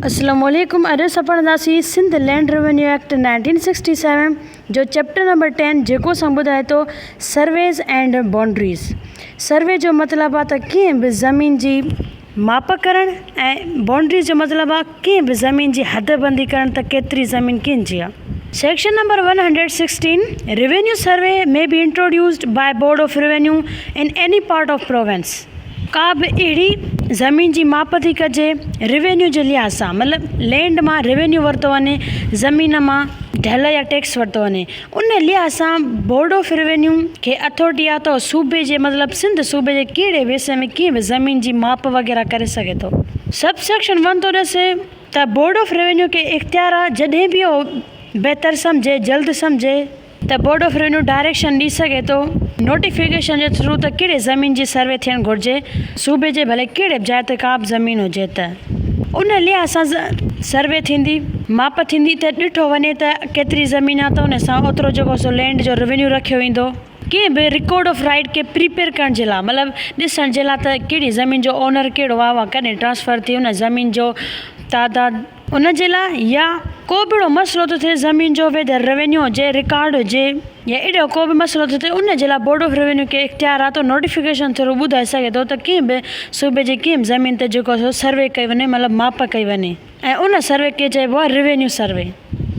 اسلام عليڪم اڄ اسان پڙهنداسين Sindh land revenue act nineteen sixty seven جو چيپٽر نمبر ٽين جيڪو اسان ٻڌائي ٿو سرويز اينڊ بونڊريز سروي جو مطلب آ ته ڪنهن به زمين جي ماپ ڪرڻ ۽ بونڊريز جو مطلب آ ڪنهن به زمين جي حد بندي ڪرڻ ته ڪيتري زمين ڪنهن جي آ section number one hundred sixteen revenue survey may be introduced by board of revenue in any part of province ڪا به اهڙي زمين جي ماپ ٿي ڪجي روينيو جي لحاظ سان مطلب لينڊ مان روينيو ورتو وڃي زمين مان ڍل يا ٽيڪس ورتو وڃي ان لحاظ سان بورڊ آف روينيو کي اٿورٽي آهي ته صوبي جي مطلب سنڌ صوبي جي ڪهڙي به حصي ۾ ڪنهن به زمين جي ماپ وغيره ڪري سگهي ٿو. سب سيڪشن ون ٿو ڏسي ته بورڊ آف روينيو کي اختيار آهي جڏهن به اهو بهتر سمجهي جلد سمجهي ته بورڊ آف روينيو ڊائريڪشن ڏئي سگهي ٿو نوٽيفڪيشن جي ٿرو ته ڪهڙي زمين جي سروي ٿيڻ گهرجي صوبي جي ڀلي ڪهڙي به جاء تي ڪا به زمين هجي ته ان لحاظ سان سروي ٿيندي ماپ ٿيندي ته ڏٺو وڃي ته ڪيتري زمين آ ته ان سان اوترو جيڪو سو لينڊ جو روينيو رکيو ويندو ڪنهن به رڪارڊ آف رائيٽ کي پريپيئر ڪرڻ جي لاء مطلب ڏسڻ جي لاء ته ڪهڙي زمين جو اونر ڪهڙو آ اها ڪڏهن ٽرانسفر ٿي ان زمين جو تعداد ان جي لاء يا ڪو به اهڙو مسئلو ٿو ٿئي زمين جو ويدر روينيو هجي رڪارڊ هجي يا اهڙو ڪو به مسئلو ٿو ٿئي ان جي لاء بورڊ آف روينيو کي اختيار آهي ته نوٽيفڪيشن ٿرو ٻڌائي سگهي ٿو ته ڪنهن به صوبي جي ڪنهن به زمين تي جيڪو سو سروي ڪئي وڃي مطلب ماپ ڪئي وڃي ۽ ان سروي کي چئبو آهي revenue survey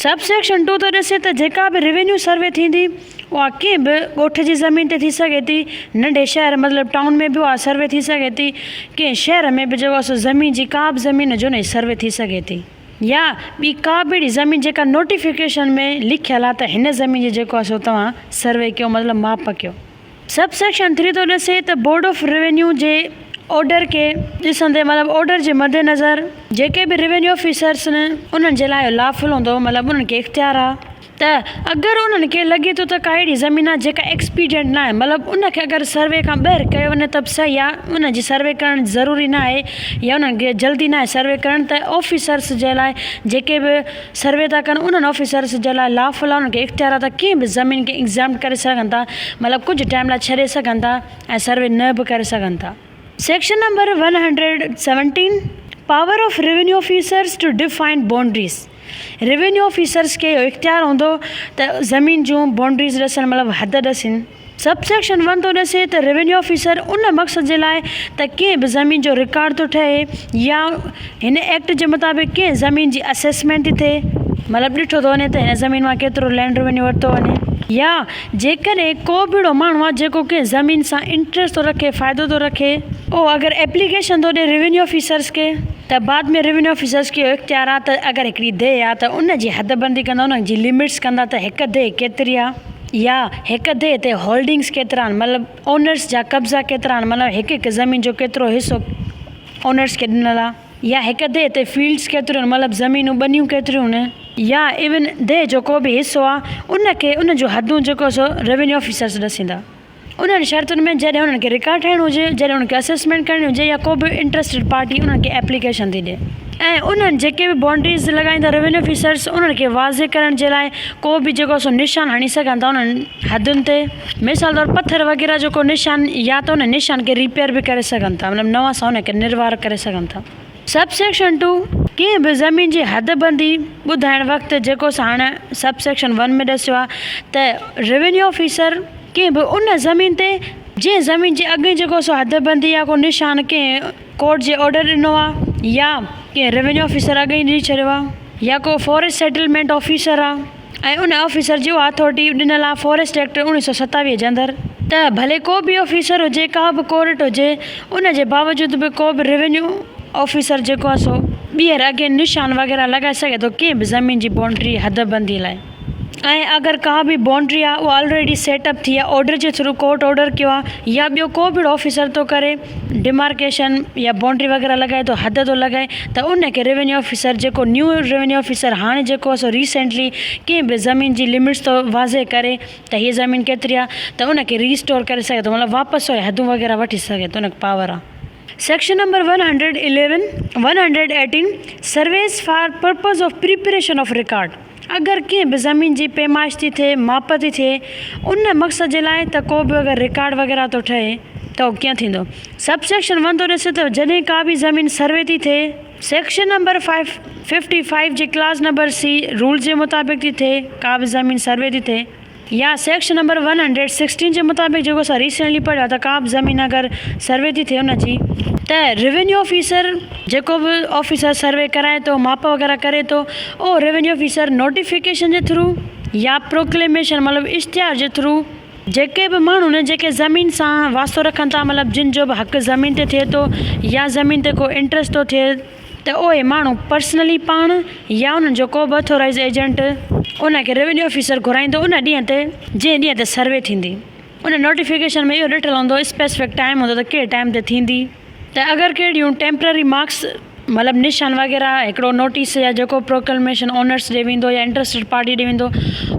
sub section two ٿو ڏسي ته جيڪا به روينيو سروي ٿيندي اها ڪنهن به ڳوٺ جي زمين تي ٿي سگهي ٿي، ننڍي شهر مطلب ٽائون ۾ به اها سروي ٿي سگهي ٿي، ڪنهن شهر ۾ به جيڪو آهي سو زمين جي ڪا به زمين جو نئين سروي ٿي سگهي ٿي يا ٻي ڪا به اهڙي زمين جيڪا نوٽيفڪيشن ۾ لکيل آهي ته هن زمين جي جيڪو آهي سو توهان سروي ڪيو مطلب ماپ ڪيو. سب سيڪشن ٿري ٿو ڏسي ته بورڊ آف روينيو جي آرڊر کي ڏسندي مطلب آرڊر جي مدنظر جيڪي به روينيو آفيسرس انهن جي لاء اهو لافل هوندو مطلب انهن کي اختيار آهي. ته اگر انهن کي لڳي ٿو ته ڪا اهڙي زمين آهي جيڪا ايڪسپيڊينٽ ناهي مطلب ان کي اگر سروي کان ٻاهر ڪيو وڃي ته به صحيح يا ان جي سروي ڪرڻ ضروري ناهي يا انهن کي جلدي ناهي سروي ڪرڻ ته آفيسرس جي لاء جيڪي به سروي ٿا ڪن انهن آفيسرس جي لاء لا فلا انهن کي اختيارات آهي ڪنهن به زمين کي ايگزيمپٽ ڪري سگهن ٿا مطلب ڪجهه ٽائيم لاء ڇڏي سگهن ٿا ۽ سروي نه به ڪري سگهن ٿا. Section number one hundred and seventeen, power of revenue officers to define boundaries, revenue officers کي اهو اختيار هوندو ته زمين جون بائونڊريز ڏسڻ مطلب حد ڏسين. سب سيڪشن ون ٿو ڏسي ته روينيو آفيسر ان مقصد جي لاء ته ڪنهن به زمين جو رڪارڊ ٿو ٺهي يا هن ايڪٽ جي مطابق ڪنهن زمين جي اسيسمينٽ ٿي، مطلب ڏٺو ٿو وڃي ته هن زمين مان ڪيترو لينڊ روينيو ورتو وڃي يا جيڪڏهن ڪو به اهڙو ماڻهو آهي جيڪو ڪنهن زمين سان انٽريسٽ ٿو رکي فائدو ٿو رکي اهو اگر ايپليڪيشن ٿو ڏي روينيو آفيسرس کي ته بعد ۾ روينيو آفيسرس کي اهو اختيار آهي ته اگر هڪڙي ديهه آهي ته ان جي حد بندي ڪندا ان جي لمٽس ڪندا ته هڪ ديهه ڪيتري آهي يا هڪ ديهه تي هولڊنگس ڪيترا آهن مطلب اونرس جا قبضا ڪيترا آهن مطلب هڪ هڪ زمين جو ڪيترو حصو اونرس کي ڏنل آهي. يا هڪ ديهه تي فيلڊس ڪيتريون مطلب زمينون ٻنيون ڪيتريون يا ايون ديهه جو ڪو به حصو آ ان کي ان جون حدون جيڪو سو روينيو آفيسرس ڏسيندا انهن شرطن ۾ جڏهن انهن کي رڪارڊ ٺاهڻو هجي جڏهن انهن کي اسيسمينٽ ڪرڻي هجي يا ڪو به انٽرسٽيڊ پارٽي انهن کي ايپليڪيشن ٿي ڏي ۽ انهن جيڪي به بائونڊريز لڳائيندا روينيو آفيسرس انهن کي واضح ڪرڻ جي لاء ڪو به جيڪو سو نشان هڻي سگهن ٿا انهن حدن تي. مثال طور پٿر وغيره جو ڪو نشان يا ته ان نشان کي ريپيئر به ڪري سگهن ٿا مطلب نوان سان ان کي نروار ڪري سگهن ٿا. سب سيڪشن ٽو، ڪنهن به زمين جي حد بندي ٻڌائڻ وقت جيڪو اسان هاڻ سب سيڪشن ون ۾ ڏسيو آهي ته روينيو آفيسر ڪنهن به ان زمين تي جنهن زمين جي اڳ جيڪو سو حد بندي يا ڪو نشان ڪنهن ڪورٽ جي آرڊر ڏنو آهي يا ڪنهن روينيو آفيسر اڳ ئي ڏئي ڇڏيو آهي يا ڪو فورسٽ سيٽلمينٽ آفيسر آهي ۽ ان آفيسر جي اها اٿارٽي ڏنل آهي فاريسٽ ايڪٽ اوڻيهه سؤ ستاويهه جي اندر ته ڀلي ڪو به آفيسر هجي ڪا به ڪورٽ هجي ان جي باوجود به ڪو به روينيو آفيسر جيڪو آهي سو ٻيهر اگين نشان وغيره لڳائي سگهي ٿو ڪنهن به زمين جي بائونڊري حد بندي لاء ۽ اگر ڪا به بائونڊري آهي اها آلريڊي سيٽ اپ ٿي آهي آرڊر جي ٿرو ڪورٽ آرڊر ڪيو آهي يا ٻيو ڪو به اهڙو آفيسر ٿو ڪري ڊمارڪيشن يا بائونڊري وغيره لڳائي ٿو حد ٿو لڳائي ته ان کي روينيو آفيسر جيڪو نيو روينيو آفيسر هاڻي جيڪو سو ريسينٽلي ڪنهن به زمين جي لمٽس ٿو واضح ڪري ته هي زمين ڪيتري آ ته ان کي ريسٽور ڪري سگهي ٿو مطلب واپس سو حدون وغيره وٺي سگهي ٿو ان کي پاور آ. Section number one hundred eleven one hundred eighteen surveys for purpose of preparation of record. اگر ڪنهن به زمين جي پيمائش ٿي ٿئي، ماپ ٿي ٿئي، ان مقصد جي لاء ته ڪو به اگر رڪارڊ وغيره ٿو ٺهي ته اهو ڪيئن ٿيندو؟ سب سيڪشن ون ٿو ڏسي ته جڏهن ڪا به زمين سروي ٿي ٿئي، section number five fifty five جي ڪلاز نمبر سي رول جي مطابق ٿي ٿئي، ڪا به زمين سروي ٿي ٿئي، يا section number one hundred sixteen جي مطابق جيڪو اسان ريسينٽلي پڙهيو آهي ته ڪا به زمين اگر سروي ٿي ٿئي ان جي ته روينيو آفيسر جيڪو به آفيسر سروي ڪرائي ٿو ماپ وغيره ڪري ٿو اهو روينيو آفيسر نوٽيفڪيشن جي ٿرو يا پروڪليميشن مطلب اشتهار جي ٿرو جيڪي به ماڻهو آهن جيڪي زمين سان واسطو رکن ٿا مطلب جن جو به حق زمين تي ٿئي ٿو يا زمين تي ڪو انٽرسٽ ٿو ٿئي ته اهي ماڻهو پرسنلي پاڻ يا انهن جو ڪو به اٿورائيزڊ ايجنٽ ان کي روينيو آفيسر گهرائيندو ان ڏينهن تي جنهن ڏينهن تي سروي ٿيندي. ان نوٽيفڪيشن ۾ اهو ڏٺل هوندو اسپيسفڪ ٽائيم هوندو ته ڪهڙي ٽائيم تي ٿيندي ته اگر ڪهڙيون ٽيمپرري مارڪس مطلب نشان وغيره هڪڙو نوٽيس يا جيڪو پروڪلميشن اونرس ڏي ويندو يا انٽرسٽيڊ پارٽي ڏي ويندو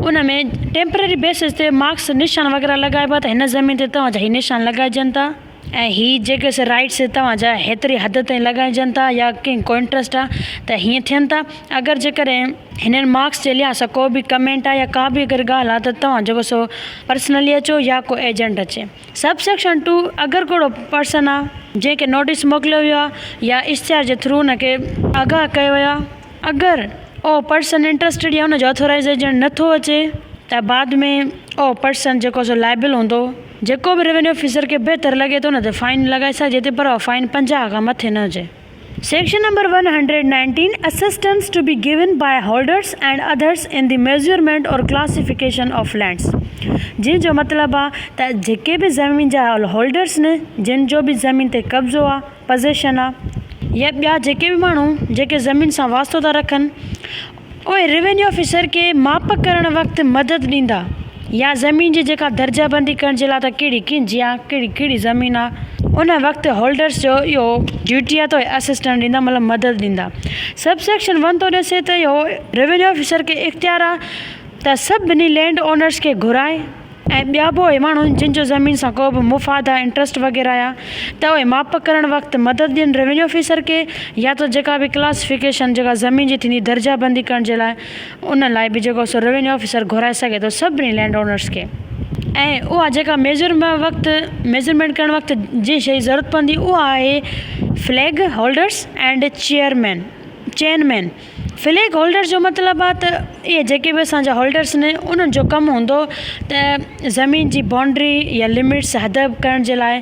ان ۾ ٽيمپرري بيسز تي مارڪس نشان وغيره لڳائبا ته هن زمين تي توهان جا هي نشان لڳائجن ٿا. ۽ هي جيڪي سي رائيٽس توهان جا هيتري حد تائين لڳائجن ٿا يا ڪنهن ڪوانٽرسٽ آ ته هيئن ٿين ٿا اگر جيڪڏهن هنن مارڪس جي لحاظ سان ڪو به ڪمينٽ آ يا ڪا به اگر ڳالهه آ ته توهان جيڪو سو پرسنلي اچو يا ڪو ايجنٽ اچي سب سيڪشن ٽو اگر ڪهڙو پرسن آ جنهن کي نوٽيس موڪليو ويو آ يا اشتهار جي ٿرو ان کي آگاهه ڪيو ويو آ اگر اهو پرسن انٽرسٽيڊ يا ان جو اٿورائيز ايجنٽ نٿو اچي ته بعد ۾ اهو پرسن جيڪو سو لائبل هوندو. جيڪو به روينيو آفيسر کي بهتر لڳي ٿو نه ته فائن لڳائي سگهجي ٿي پر اها فائن پنجاهه کان مٿي نه هجي. Section number one hundred nineteen, Assistance to be given by holders and others in the measurement or classification of lands، جنهن جو مطلب آهي ته جيڪي به زمين جا هولڊرز آهن، جن جو به زمين تي قبضو آهي، Possession، آهي، يا ٻيا جيڪي به ماڻهو جيڪي زمين سان واسطو ٿا رکن، اهي روينيو آفيسر کي ماپ ڪرڻ وقت مدد ڏيندا يا زمين جي جيڪا درجه بندي ڪرڻ جي لاء ته ڪهڙي ڪنج يا ڪهڙي ڪهڙي زمين آ ان وقت هولڊرس جو اهو ڊيوٽي آ ته اهي اسسٽنس ڏيندا مطلب مدد ڏيندا سب سيڪشن ون ٿو ڏسي ته اهو روينيو آفيسر کي اختيار آ ته سڀني لينڊ اونرس کي گهرائي ۽ ٻيا به اهي ماڻهو آهن جن جو زمين سان ڪو به مفاد آهي انٽرسٽ وغيره آهي ته اهي ماپ ڪرڻ وقت مدد ڏين روينيو آفيسر کي يا تو جيڪا به ڪلاسيفڪيشن جيڪا زمين جي ٿيندي درجه بندي ڪرڻ جي لاء ان لاء به جيڪو سو روينيو آفيسر گهرائي سگهي ٿو سڀني لينڊ اونرس کي ۽ اها جيڪا ميجر وقت ميجرمينٽ ڪرڻ وقت جنهن شيء جي ضرورت پوندي اها آهي flag holders and chairman chain man flag holder جو مطلب آ ته اهي جيڪي به اسان جا هولڊرس آهن انهن جو ڪم هوندو ته زمين جي بائونڊري يا لمٽس حد ڪرڻ جي لاء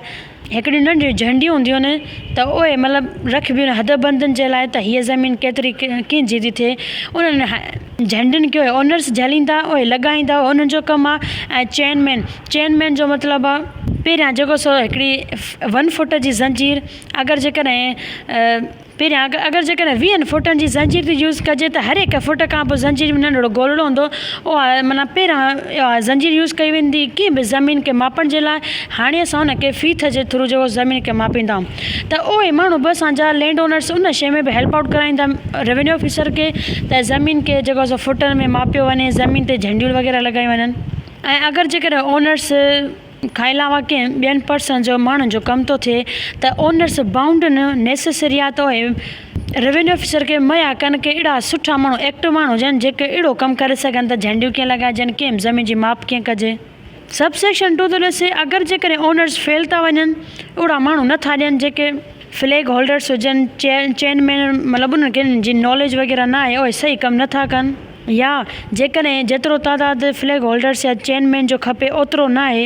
هڪڙيون ننڍيون جهنڊيون هونديون آهن ته اهي مطلب رکبيون آهن حد بندن جي لاء ته هيء زمين ڪيتري ڪنهن جي ٿي ٿئي انهن جهنڊين کي اونرس جهليندا اهي لڳائيندا انهن جو ڪم آ ۽ چين مين چين مين جو مطلب آ پهريان جيڪو سو هڪڙي ون فوٽ جي زنجير اگر جيڪڏهن پهريان اگر جيڪڏهن ويهن فوٽن جي زنجير جي يوز ڪجي ته هر هڪ فوٽ کان پوء زنجير ۾ ننڍڙو گولڙو هوندو اها معنيٰ پهريان اها زنجير يوز ڪئي ويندي ڪنهن به زمين کي ماپڻ جي لاء هاڻي اسان ان کي فيٿ جي ٿرو جيڪو زمين کي ماپيندا آهيون ته اهي ماڻهو به اسان جا لينڊ اونرس ان شئي ۾ به هيلپ آئوٽ ڪرائيندا روينيو آفيسر کي ته زمين کي جيڪو سو فوٽن ۾ ماپيو وڃي زمين تي جهنڊيون وغيره لڳايون وڃن ۽ اگر جيڪڏهن اونرس کان علاوه ڪنهن ٻين پرسن جو ماڻهن جو ڪم ٿو ٿئي ته اونرس بائونڊ نه نيسيسريا تو هي روينيو آفيسر کي مهيا ڪن ڪي اهڙا سٺا ماڻهو ايڪٽو ماڻهو هجن جيڪي اهڙو ڪم ڪري سگهن ته جهنڊيون ڪيئن لڳائجن ڪيم زمين جي ماپ ڪيئن ڪجي سب سيڪشن ٽو ٿو ڏسي اگر جيڪڏهن اونرس فيل ٿا وڃن اهڙا ماڻهو نه ٿا ڏين جيڪي فليگ هولڊرس هجن چين چين مين مطلب انهن کي جن ناليج وغيره نه آهي اهي صحيح ڪم نه ٿا ڪن. يا جيڪڏهن جيترو تعداد فليگ هولڊرز يا چين مين جو کپي اوترو ناهي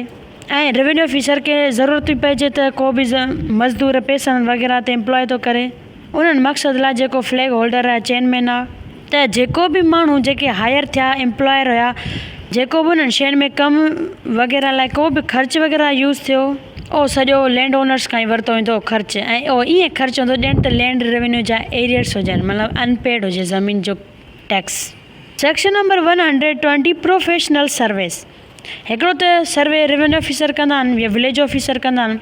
۽ روينيو آفيسر کي ضرورت ٿي پئجي ته ڪو به مزدور پيسن وغيره تي امپلائي ٿو ڪري انهن مقصد لاء جيڪو فليگ هولڊر يا چين مين آ ته جيڪو به ماڻهو جيڪي هائير ٿيا امپلائر هيا جيڪو به انهن شين ۾ ڪم وغيره لاء ڪو به خرچ وغيره يوز ٿيو اهو سڄو لينڊ اونرز کان ئي ورتو ويندو خرچ ۽ اهو ائين خرچ هوندو ڄڻ ته لينڊ روينيو جا ايريئرز هجن مطلب ان پيڊ هجي زمين جو tax. Section number one hundred twenty professional service, هڪڙو ته سروي روينيو آفيسر ڪندا آهن يا وليج آفيسر ڪندا آهن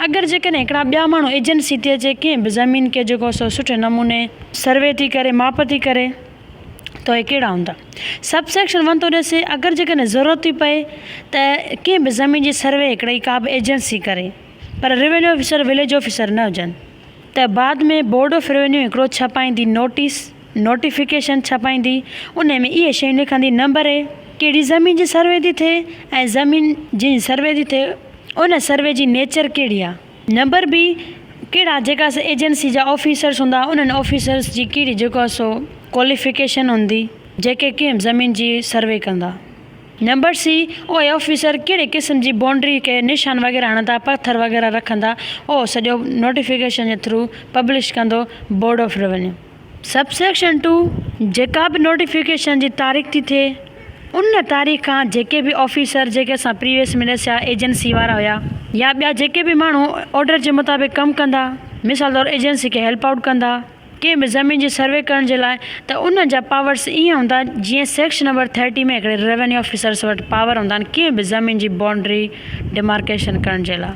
اگر جيڪڏهن هڪڙا ٻيا ماڻهو ايجنسي تي اچي ڪنهن به زمين کي جيڪو سو سٺي نموني سروي ٿي ڪري ماپ ٿي ڪري ته اهي ڪهڙا هوندا. سب سيڪشن ون ٿو ڏسي اگر جيڪڏهن ضرورت ٿي پئي ته ڪنهن به زمين جي سروي هڪڙي ڪا به ايجنسي ڪري پر روينيو آفيسر وليج آفيسر نه هجن ته بعد ۾ بورڊ آف روينيو هڪڙو ڇپائيندي نوٽيس نوٽيفڪيشن ڇپائيندي انهي ۾ اهي شيون لکندي نمبر اي ڪهڙي زمين جي سروي ٿي ٿئي ۽ زمين جنهن سروي ٿي ٿئي ان سروي جي نيچر ڪهڙي آ نمبر بي ڪهڙا جيڪا سا ايجنسي جا آفيسرس هوندا انهن آفيسرس جي ڪهڙي جيڪو آ سو ڪواليفڪيشن هوندي جيڪي ڪنهن زمين جي سروي ڪندا نمبر سي اهي آفيسر ڪهڙي قسم جي بائونڊري کي نشان وغيره هڻندا پٿر وغيره رکندا اهو سڄو نوٽيفڪيشن جي ٿرو پبلش ڪندو board of revenue. Sub section two, جيڪا به نوٽيفڪيشن جي تاريخ ٿي ٿئي ان تاريخ کان جيڪي به آفيسر جيڪي اسان پريويس ملس يا ايجنسي وارا هيا يا ٻيا جيڪي به ماڻهو آرڊر جي مطابق ڪم ڪندا مثال طور ايجنسي کي هيلپ آئوٽ ڪندا ڪنهن به زمين جي سروي ڪرڻ جي لاء ته انهن جا پاورس ائين هوندا جيئن سيڪشن نمبر ٿرٽي ۾ هڪڙي ريونيو آفيسرس وٽ پاور هوندا آهن ڪنهن به زمين جي بائونڊري ڊيمارڪيشن ڪرڻ جي لاء.